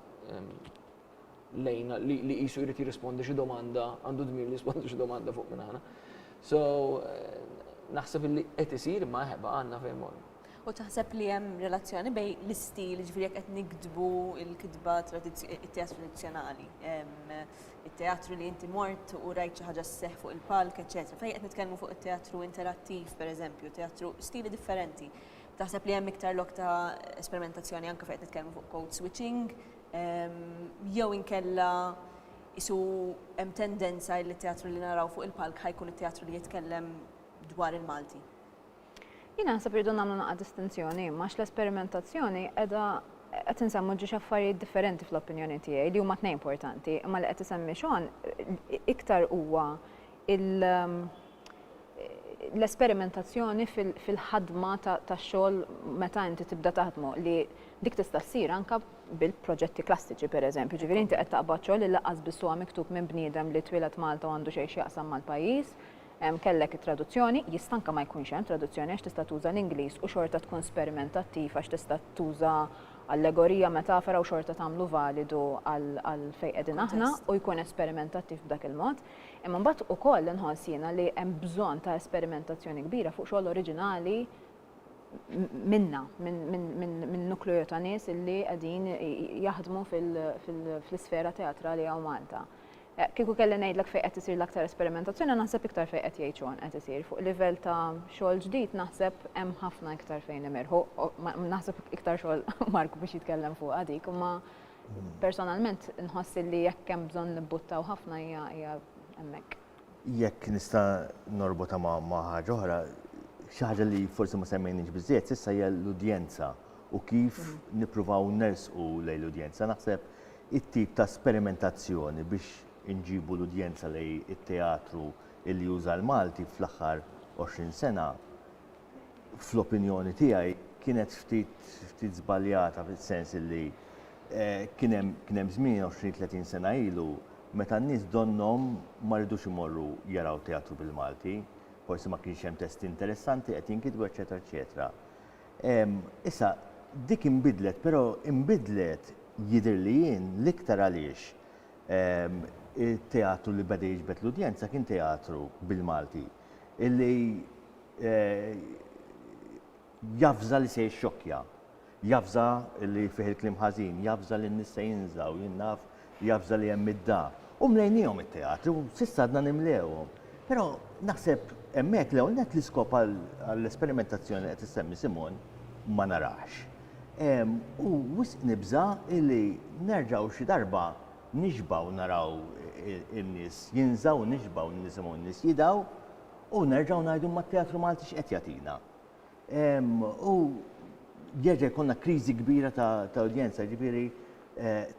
lejn li li qisu jrid jirrispondi xi domanda, għandu dmir li jirrispondi xi domanda fuq minn aħna. So eh, naħseb li qed isir ma ħeba għandna fejn morru. U taħseb li hemm relazzjoni bej l-istil, ġifieri jekk qed nikdbu l-kitba it-teatru tradizzjonali, it-teatru li inti mort u rajt xi ħaġa sseħħ fuq il-palk, eċetera. Fejn qed nitkellmu fuq it-teatru interattiv, pereżempju, teatru stili differenti. Taħseb li hemm iktar lok ta' esperimentazzjoni anke fejn qed nitkellmu fuq code switching, Jew inkella isu hemm tendenza li t-teatru li naraw fuq il-palk ħajkun it-teatru li jitkellem dwar il-Malti? Jien naħseb irridu nagħmlu naqa' distinzjoni, imma l-esperimentazzjoni qiegħda qed insemmu ġiex affarijiet differenti fl-opinjoni tiegħi li huma tnejn importanti, imma li qed isemmi Sean iktar huwa l-esperimentazzjoni fil-ħadma tax-xogħol meta inti tibda taħdmu li dik tista' ssir anke bil-proġetti klassiċi pereżempju. Jiġifieri inti qed taqbad xogħol li lanqas biss huwa miktub minn bniedem li twieled Malta u għandu xejn x'jaqsam mal-pajjiż, kellek it-traduzzjoni, jista' anke ma jkunx hemm traduzzjoni għax tista' tuża l-Ingliż u xorta tkun sperimentattiv għax tista' tuża allegorija, metafora u xorta tagħmlu validu għal fejn qegħdin aħna u jkun esperimentattiv b'dak il-mod. Imma mbagħad ukoll inħoss jiena li hemm bżonn ta' esperimentazzjoni kbira fuq xogħol oriġinali minna, minn nukleo ta' nies illi qegħdin jaħdmu fl-isfera teatrali għaw Malta. Eh, kieku kelli ngħidlek fejn qed isir l-aktar esperimentazzjoni naħseb iktar fejn qed jgħid xogħol qed isir. Fuq livell ta' xogħol ġdid naħseb hemm ħafna iktar fejn imirħu, naħseb iktar xogħol Mark biex jitkellem fuq dik, imma Personalment nħoss illi jekk hemm bżonn nibbuttaw ħafna hija hija hemmhekk. Jekk nista' norbotha ma' ma' ħaġa oħra, xi ħaġa li forsi ma semmejniex biżżejjed s'issa hija l-udjenza u kif nippruvaw nersqu lejn l-udjenza. Naħseb it-tip ta' sperimentazzjoni biex inġibu l-udjenza lejn it-teatru illi juża l-Malti fl-aħħar għoxrin sena fl-opinjoni tiegħi kienet ftit ftit żbaljata fis-sens illi kien hemm kien hemm żmien 20 30 sena ilu meta n-nies donnhom ma ridux imorru jaraw teatru bil-Malti, forsi ma kienx hemm testi interessanti qed jinkitbu eċċetera eċċetera. Issa dik inbidlet però inbidlet jidhirli jien l-iktar għaliex it-teatru li beda jiġbed l-udjenza kien teatru bil-Malti. illi eh, jafza li se jxokja, jafza li fih il-klim ħażin, jafza li n-nis se jinżaw, jinnaf, jafza li hemm id-da. U mlejnijom il-teatru, sissa għadna nimlewhom. Pero naħseb hemmhekk l net l-iskop għall-esperimentazzjoni qed issemmi Simon ma narax. U wisq nibża illi nerġaw xi darba Nixbgħu naraw in-nies jinżgħu u nixbgħu nisimgħu n-nies jidgħu u nerġgħu ngħidu imma t-teatru Malti x'qed jagħtina. U jerġa' jkollna kriżi kbira ta' udjenza, jiġifieri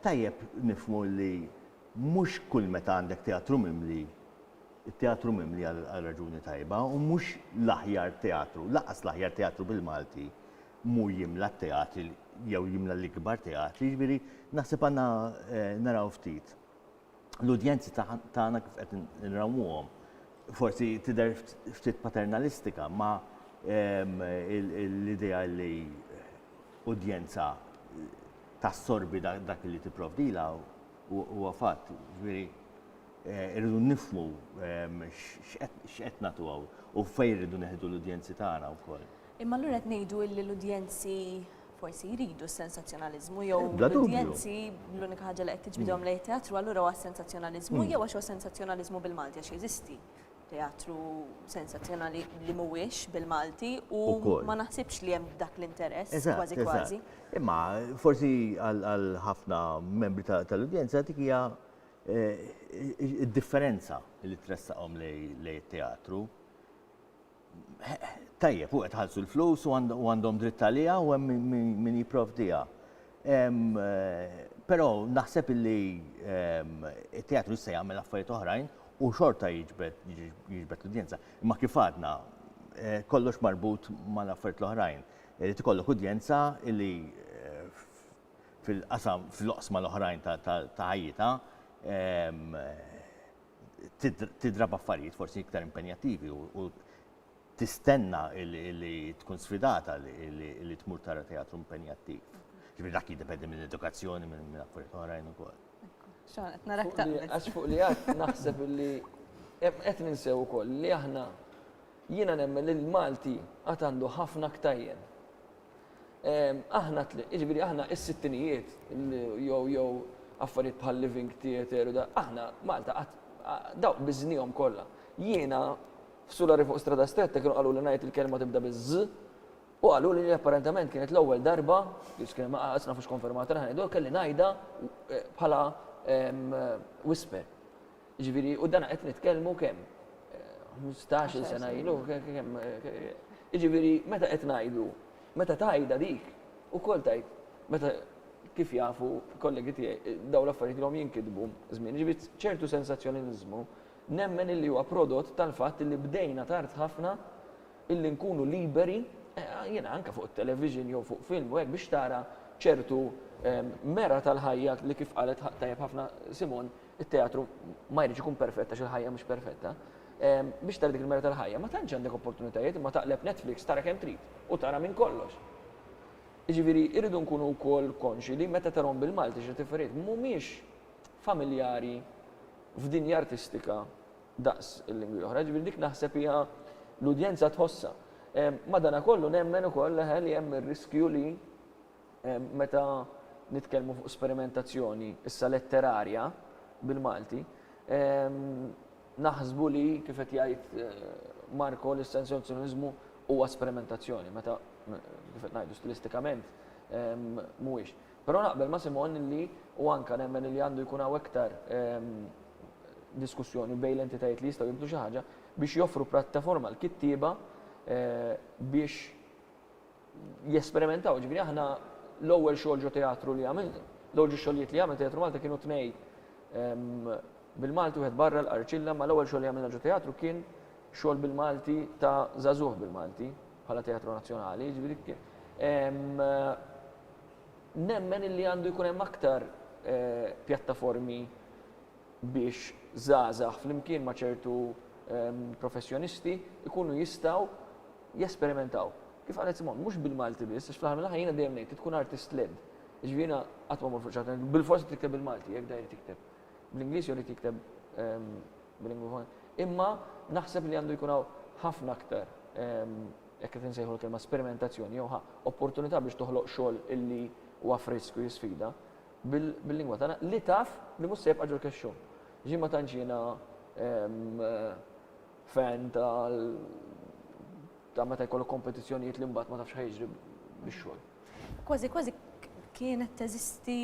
tajjeb nifhmu li mhux kull meta għandek teatru mimli, it-teatru mimli għal raġuni tajba u mhux l-aħjar teatru, lanqas l-aħjar teatru bil-Malti mhu jimla t-teatri jew jimla l-ikbar teatri, jiġifieri naħseb għandna naraw ftit l-udjenzi tagħna kif qed nrawmuhom. Forsi tidher ftit paternalistika ma l-idea li udjenza tassorbi dak li tipprovdilha huwa fatt. irridu nifmu x'qed nagħtu hawn u fejn irridu neħdu l-udjenzi tagħna wkoll. Imma allura qed ngħidu li l-udjenzi forsi jridu s-sensazzjonaliżmu jew l-udjenzi l-unika ħaġa li qed tiġbidhom lejn teatru allura huwa s-sensazzjonaliżmu hmm. jew għax huwa sensazzjonaliżmu bil-Malti għax jeżisti teatru sensazzjonali li mhuwiex bil-Malti u ma naħsibx li hemm dak l-interess kważi kważi. Imma forsi għal ħafna membri tal-udjenza dik hija eh, id-differenza li tressaqhom lej teatru tajjeb u qed ħalsu l-flus u għandhom dritt għalija u hemm min jipprovdiha. Eh, però naħseb li it-teatru se jagħmel affarijiet oħrajn u xorta jiġbed l-udjenza. Imma kif għadna eh, kollox marbut mal-affarijiet l-oħrajn. Irid ikollok udjenza li fil-qasam fl-oqsma l-oħrajn ta' ħajjitha tidra b'affarijiet forsi iktar impenjattivi u tistenna li tkun sfidata li tmur tara teatru impenjattiv. Ġifieri dak jiddependi minn edukazzjoni minn affarijiet oħrajn ukoll. Għax fuq li għad naħseb li qed ninsew ukoll li aħna jiena nemmen li l-Malti għad għandu ħafna ktajjen Aħna, jiġifieri aħna s-sittinijiet jew jew affarijiet bħal living theatre u da, aħna Malta qatt dawk biżnihom kollha. Jiena f'Sulari fuq Strada Stretta kienu qaluli ngħid il-kelma tibda biz-z u qaluli li apparentament kienet l-ewwel darba, biss kien ma qatt nafux konfermata li ħa ngħidha, kelli ngħidha bħala whisper. Jiġifieri, u dan qed nitkellmu kemm? Ħmistax-il sena ilu, kemm? Jiġifieri, meta qed ngħidu, meta tgħidha dik, ukoll tgħid, meta kif jafu kollegi tiegħi, dawn l-affarijiet ilhom jinkitbu żmien. Jiġifieri, ċertu sensazzjoniliżmu nemmen illi huwa prodott tal-fatt illi bdejna tard ħafna illi nkunu liberi, jiena anke fuq it-television jew fuq film u hekk biex tara ċertu mera tal-ħajja li kif qalet tajjeb ħafna Simone, it-teatru ma jridx ikun perfett għax il-ħajja mhux perfetta, ehm, biex tara dik il-mera tal-ħajja, ma tantx għandek opportunitajiet imma taqleb Netflix tara kemm trid u tara minn kollox. Iġifieri irridu nkunu wkoll konxi li meta tarhom bil-Malti xi tiferiet mhumiex familjari f'dinja artistika daqs il-lingwi oħra, ġifieri dik naħseb hija l-udjenza tħossha. Ehm, Madana kollu nemmen ukoll li hemm ir-riskju li Meta nitkellmu fuq sperimentazzjoni issa letterarja bil-Malti, naħsbu li kif qed jgħid Marco l-essenzjonizmu huwa sperimentazzjoni meta kif qed ngħidu stilistikament mhuwiex. Però naqbel ma' Simon li u anke nemmen li għandu jkun hawn iktar diskussjoni bejn l-entitajiet li jistgħu jibdu xi ħaġa biex joffru prattaforma għall-kittieba biex jesperimentaw. Ġifieri aħna l-ewwel xogħol ġo teatru li għamil, l-ewwel ġu xogħlijiet li għamil Teatru Malta kienu tnej ehm, bil-Malti wieħed barra l-Qarċilla, ma l-ewwel xogħol li għamilna ġo teatru kien xogħol bil-Malti ta' żagħżugħ bil-Malti bħala Teatru Nazzjonali, ġifieri ehm, nemmen illi għandu jkun hemm aktar eh, pjattaformi biex zazax flimkien ma' ċertu ehm, professjonisti ikunu jistaw jesperimentaw. Kif qalet Simone, mhux bil-Malti biss, għax fl-aħħar mill-aħħar jiena dejjem ngħid li tkun artist led. Jiġifieri jiena qatt ma mmur fuq xi ħadd bilfors irid tikteb bil-Malti, jekk dan irid jikteb bl-Ingliż jew irid jikteb ehm, bil-lingwa oħra. Imma naħseb li għandu jkun hawn ħafna aktar ehm, jekk qed insejħu l-kelma sperimentazzjoni jew opportunità biex toħloq xogħol illi huwa frisk u jisfida bil-lingwa tagħna li taf li mhux se jibqa' ġol kexxum. Ġi ma tantx jiena ehm, fan tal ta' meta jkollok kompetizzjonijiet li mbagħad ma tafx ħajġri bix-xogħol. Kważi kważi kienet teżisti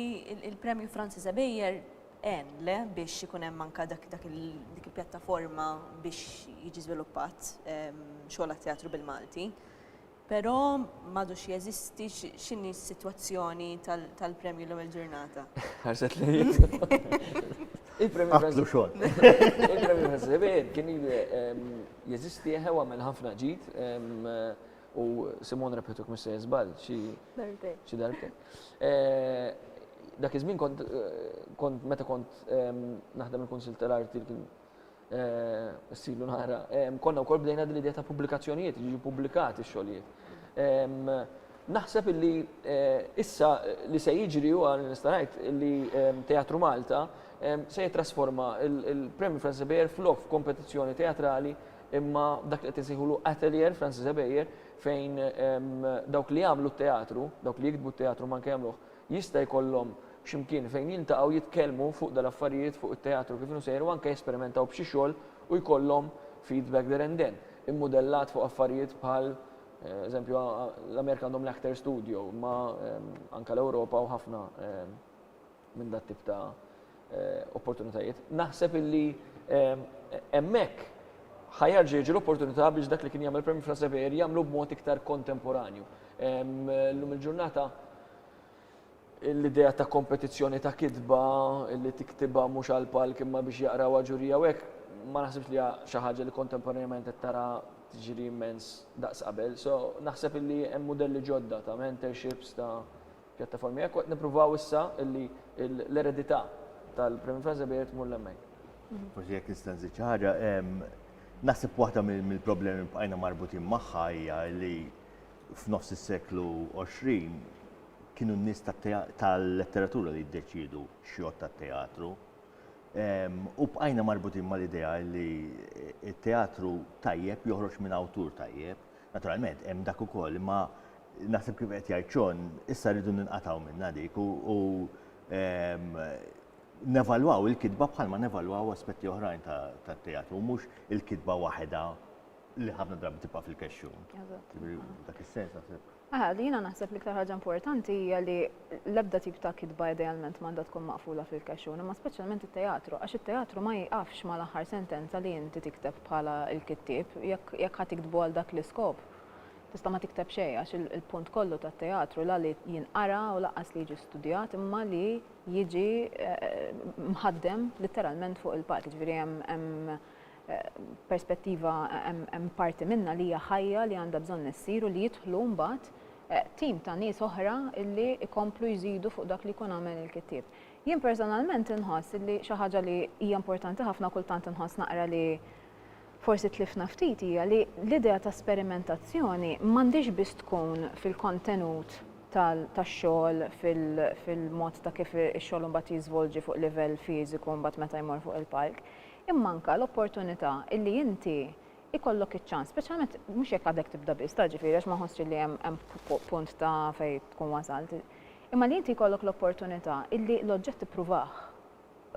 il-Premju Francis Abejer en le biex ikun hemm anka dak dik il-pjattaforma biex jiġi żviluppat ehm, xogħol teatru bil-Malti. Però m'għadux jeżisti, x'inhi s-sitwazzjoni tal-premju l-ewwel ġurnata? Ħarset lejn. Il-premju Għatlu xogħol. Il-premju Ħasebien kien jeżisti eħe għamel ħafna ġid u Simon repetuk mis se jiżbal xi darbtejn. Dak iż-żmien kont meta kont naħdem il-Kunsill tal-Arti kien Issilu nara. Konna wkoll bdejna din l-idea ta' pubblikazzjonijiet, jiġu ppubblikati x-xogħlijiet. Naħseb illi issa li se jiġri huwa li nista' ngħid illi Teatru Malta se jittrasforma l-Premju Francis Ebejer flok f'kompetizzjoni teatrali imma dak li qed insejħulu Atelier Francis Ebejer fejn dawk li jagħmlu t-teatru, dawk li jiktbu t-teatru ma anke jagħmluh Jista' jkollhom xi mkien fejn jiltaqgħu jitkellmu fuq dal-affarijiet fuq it-teatru kif inhu sejjer u anke jesperimentaw b'xi xogħol u jkollhom feedback there and then, immudellat fuq affarijiet bħal eżempju l-Amerika għandhom l-Actors Studio imma anke l-Ewropa hawn ħafna minn dat-tip ta' opportunitajiet. Naħseb illi hemmhekk ħajarġa jiġi l-opportunità biex dak li kien jagħmel Prem Frasever jagħmlu b'mod iktar kontemporanju. Llum il-ġurnata l-idea ta' kompetizzjoni ta' kitba li tiktibha mhux għal palk imma biex jaqrawha ġurija u hekk ma naħsibx li xi ħaġa li kontemporanjament qed tara tiġri immens daqs qabel. So naħseb illi hemm mudelli ġodda ta' mentorships ta' pjattaformi hekk u qed nippruvaw issa illi l-eredità tal-Premju Franz Sebair tmur l-hemmhekk. Forsi jekk nista' nżid xi ħaġa, naħseb waħda mill-problemi li bqajna marbutin magħha hija li f'nofs is-seklu 20 kienu n-nies tal-letteratura li jiddeċiedu x'jgħodd tat-teatru. U bqajna marbutin mal-idea li t-teatru tajjeb joħroġ minn awtur tajjeb Naturalment, hemm dak ukoll, imma naħseb kif qed jgħid John, issa rridu ninqatgħu minnha dik u ehm, nevalwaw il-kitba bħalma nevalwaw aspetti oħrajn tat-teatru, mhux il-kitba waħedha li ħafna drabi tibqa' fil-kexxun. Dak is-sens naħseb. Aha, li jiena naħseb li iktar ħaġa importanti hija li l-ebda tip ta' kitba idealment m'għandha tkun maqfula fil-kexxun, imma speċjalment it-teatru, għax it-teatru ma jieqafx mal-aħħar sentenza li inti tikteb bħala l-kittieb, jekk jekk ħa tiktbu għal dak l-iskop, tista' ma tikteb xejn għax il-punt kollu tat-teatru la li jinqara u lanqas li jiġi studjat imma li jiġi mħaddem litteralment fuq il-palk, jiġifieri hemm hemm perspettiva hemm parti minnha li hija ħajja li għandha bżonn issir u li jidħlu mbagħad tim ta' nies oħra li jkomplu jżidu fuq dak li jkun għamel il-kittieb. Jien personalment inħoss li xi ħaġa li hija importanti ħafna kultant inħoss naqra li forsi tlifna ftit hija li l-idea ta' sperimentazzjoni m'għandhiex biss tkun fil-kontenut tax-xogħol fil-mod ta' kif ix-xogħol imbagħad jiżvolġi fuq livell fiżiku mbagħad meta jmorr fuq il-palk. Imma anke l-opportunità illi inti jkollok iċ-ċans, speċjalment mhux jekk għadek tibda biss, ta' ġifieri għax ma nħossx illi hemm hemm punt ta' fejn tkun wasalt, imma li inti jkollok l-opportunità illi l-oġġett tippruvah,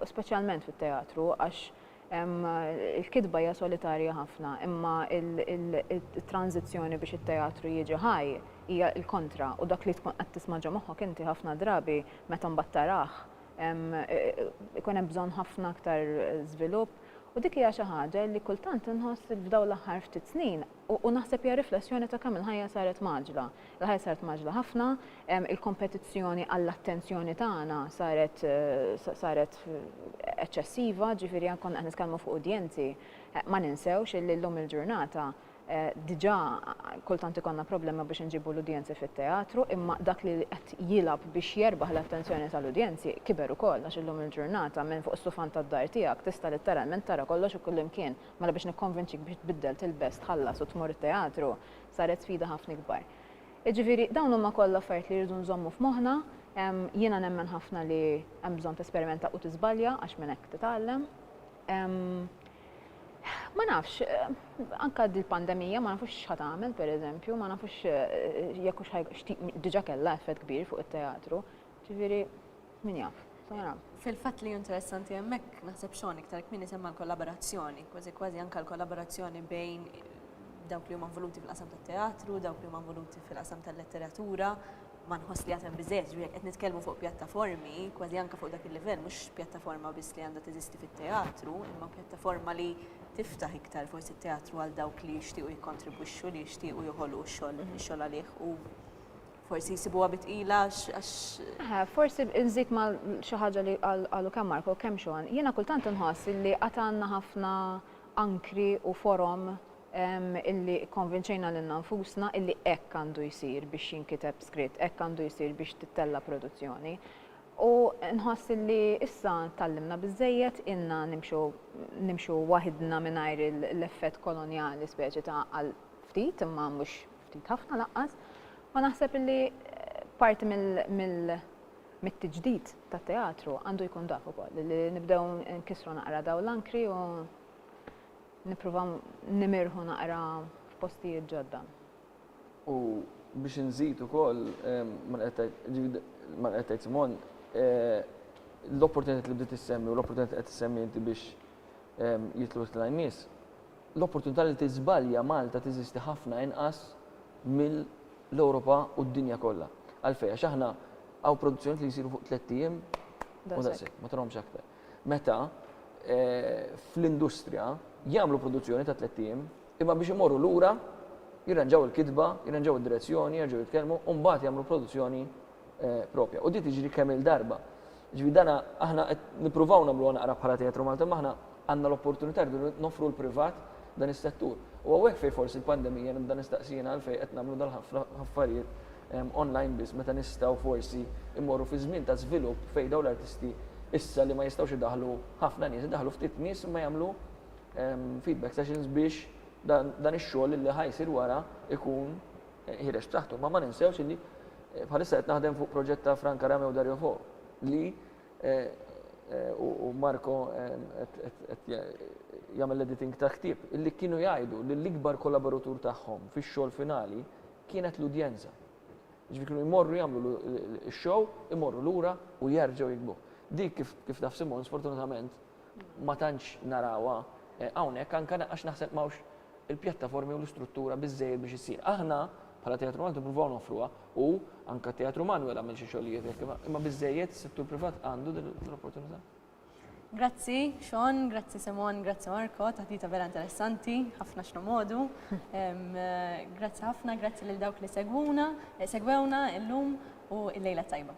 u speċjalment fit-teatru għax il-kitba hija solitarja ħafna imma it-tranżizzjoni biex it-teatru jiġi ħaj hija l-kontra u dak li tkun qed tisma' ġo moħħok inti ħafna drabi meta mbagħad tarah Ikun hemm bżonn ħafna aktar żvilupp u dik hija xi ħaġa li kultant inħoss f'dawn l-aħħar ftit snin u naħseb hija riflessjoni ta' kemm il-ħajja saret maġla. Il-ħajja saret maġla ħafna, il-kompetizzjoni għall-attenzjoni tagħna saret saret eċċessiva, ġifieri ankun qed nitkellmu fuq udjenzi. Ma ninsewx illi llum il-ġurnata Diġà kultant ikollna problema biex inġibu l-udjenzi fit-teatru, imma dak li qed jilgħab biex jerbaħ l-attenzjoni tal-udjenzi kiber ukoll għax illum il-ġurnata minn fuq is-sufan tad-dar tiegħek tista' litteralment tara kollox u kullimkien. Mela biex nikkonvinċik biex tbiddel, tilbes, tħallas u tmur it-teatru saret sfida ħafna ikbar. Jiġifieri dawn huma kollha affarijiet li rridu nżommu f'moħħna. Jiena nemmen ħafna li hemm bżonn tesperimenta u tiżbalja għax minn hekk titgħallem. Ma nafx, anka dil-pandemija ma nafux x'ħa tagħmel pereżempju, ma nafux eh, jekk hux diġà kellha effett kbir fuq it-teatru. Ġifieri min jaf. Fil-fatt li interessanti hemmhekk naħseb xogħol iktar kmieni semma l-kollaborazzjoni, kważi kważi anke l-kollaborazzjoni bejn dawk li huma voluti fil-qasam tat-teatru, dawk li huma voluti fil-qasam tal-letteratura, ma nħoss li għad hemm biżżejjed, jiġifieri jekk qed nitkellmu fuq pjattaformi, kważi anke fuq dak il-livell, mhux pjattaforma biss li għandha teżisti fit-teatru, imma pjattaforma li tiftaħ iktar forsi t-teatru għal dawk li jixtiequ jikkontribwixxu, li jixtiequ joħolqu x-xogħol, ix-xogħol għalih u forsi jsibuha bi tqila għax. Eħe, forsi nżid ma' xi ħaġa li qalu kemm Marco u kemm Sean, jiena kultant inħoss li għad għandna ħafna ankri u forom illi kkonvinċejna lilna nfusna illi hekk għandu jsir biex jinkiteb skritt, hekk għandu jsir biex tittella' produzzjoni. U nħoss illi issa tgħallimna biżżejjed, ilna nimxu nimxu waħidna mingħajr l-effett kolonjali speċi ta' għal ftit imma mhux ftit ħafna lanqas, u naħseb illi parti mill mit-tiġdid tat-teatru għandu jkun dak ukoll, illi nibdew nkissru naqra dawn l-ankri u. Nipprova nimirħu naqra f'postijiet ġodda. U biex inżid ukoll ma qed tgħid, ġifieri ma qed tgħid Simon, l-opportunitajiet li bdiet issemmi u l-opportunitajiet li qed issemmi inti biex jidħlu iktar nies, l-opportunità li tiżbalja Malta teżisti ħafna inqas mill-Ewropa u d-dinja kollha. Għalfejn? Għax aħna hawn produzzjonijiet li jsiru fuq tlett ijiem u that's it, ma tarahomx aktar. meta fl-industrija jagħmlu produzzjoni ta' tlett ijiem imma biex imorru lura jirranġaw il-kitba, jirranġaw id-direzzjoni, jerġgħu jitkellmu u mbagħad jagħmlu l-produzzjoni proprja. U din tiġri kemm-il darba. Ġifieri dan aħna qed nippruvaw nagħmluha naqra bħala Teatru Malti imma aħna għandna l-opportunità rridu noffru l-privat dan is-settur. U hawnhekk fejn forsi l-pandemija nibda nistaqsi jiena għalfejn qed nagħmlu dal-ħafna affarijiet online biss meta nistgħu forsi mmorru fi żmien ta' żvilupp fejn dawn l-artisti issa li ma jistgħux idaħħlu ħafna nies, idaħħlu ftit nies imma jagħmlu feedback sessions biex dan ix-xogħol li ħa jsir wara jkun ħireġ b'saħħtu. Ma ma ninsewx li bħalissa qed naħdem fuq proġett ta' Frank Arameo Dario Fo li u Marco qed jagħmel l-editing ta' ħtieb, illi kienu jgħidu li l-ikbar kollaboratur tagħhom fix-xogħol finali kienet l-udjenza. Ġifieri kienu jmorru jagħmlu x-show, imorru lura u jerġgħu jikbu. Dik kif kif taf Simon sfortunatament ma tantx narawha hawnhekk anke għax naħseb ma hawnx il-pjattaformi u l-istruttura biżżejjed biex issir. Aħna bħala Teatru Malti nippruvaw noffruha u anke t-Teatru Manwel għamel xi xogħlijiet hekk imma imma biżżejjed is-settur privat għandu din l-opportunità? Grazzi Sean, grazzi Simon, grazzi Marco, taħdita vera interessanti, ħafna x'nu modu. Grazzi ħafna, grazzi lil dawk li segwuna, segwewna illum u l-lejla tajba.